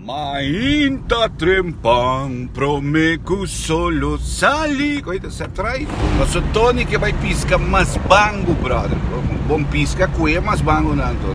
Mainta trempan prome cu solo sali. Koe ta sa trai. Paso Tony ke bai pisca mas bangu brother. Bon pisca koe mas bangu nan Tony.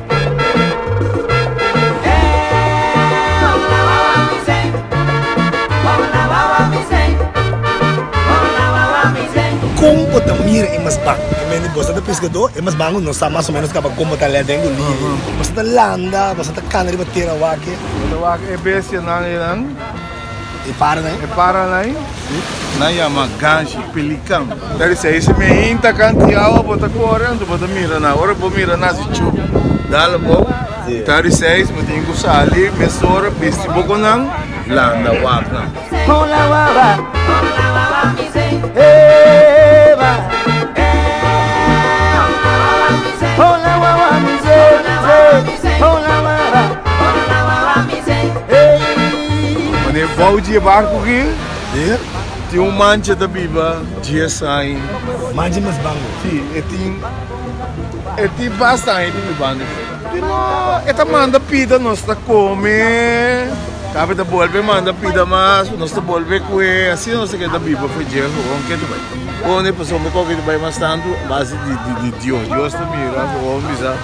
Kon bo ta mira e mas ban? E mende boso ta peskadó, e mas ban no sa mas o menos kaba kon bo ta lèt den lí. Boso ta landa, boso ta kana riba tera wak e. Bo ta wak e bestianan einan? E para lai? E para lai? Si. Nan yama ganshi, pelikan. Ta di sa, ese miahin ta kan tin awa, bo ta kore anto bo ta mira nan. Ora bo mira nan si chup dal abou, ta di seis bo tin ku sali mesora, bisti bo ku nan, landa wak nan. Hola wawa, hola wawa mi sei, eh wa, eh hola wawa mi sei, hola wawa mi sei, hola wawa mi sei, hola wawa, hola wawa mi sei, eh. Ora e bou dje barku ki tin un man dje ta biba dies aña. Man dje mas bangu? Si, e tin e tin basta aña tin biba ande for. Pero e ta manda pida, nos ta kome, tapi e ta bolbe manda pida mas, nos ta bolbe kue, asina nos ta keda biba for dje horon. Ke ta bai? Horon e pasobra koke ta bai mas tantu base di Dios. Dios ta mira horon bisa.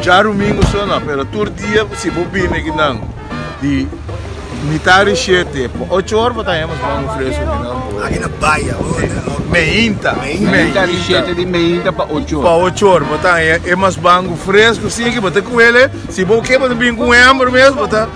Dja rumingu so na, pero tur dia si bo bini aki nan di mitá di shete pa ocho or bo ta hemos mangu fresku aki nan bo. Aki na baya bo na e hopi. Meinta. Meinta di shete di meinta pa ocho or. Pa ocho or bo ta hemos mangu fresku sin aki bo ta kuele si bo ke bo ta bini ku hember mes bo ta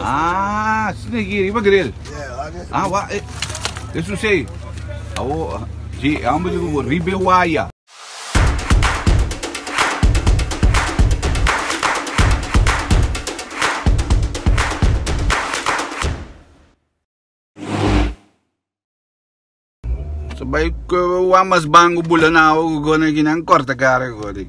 Ah, sina aquí arriba grill. Ah, wa, eh, eso sí. Awo, sí, ambos de grupo, ribe waya. So bai, wa mas bango bula na awo, go na aquí nan corta cara, go di.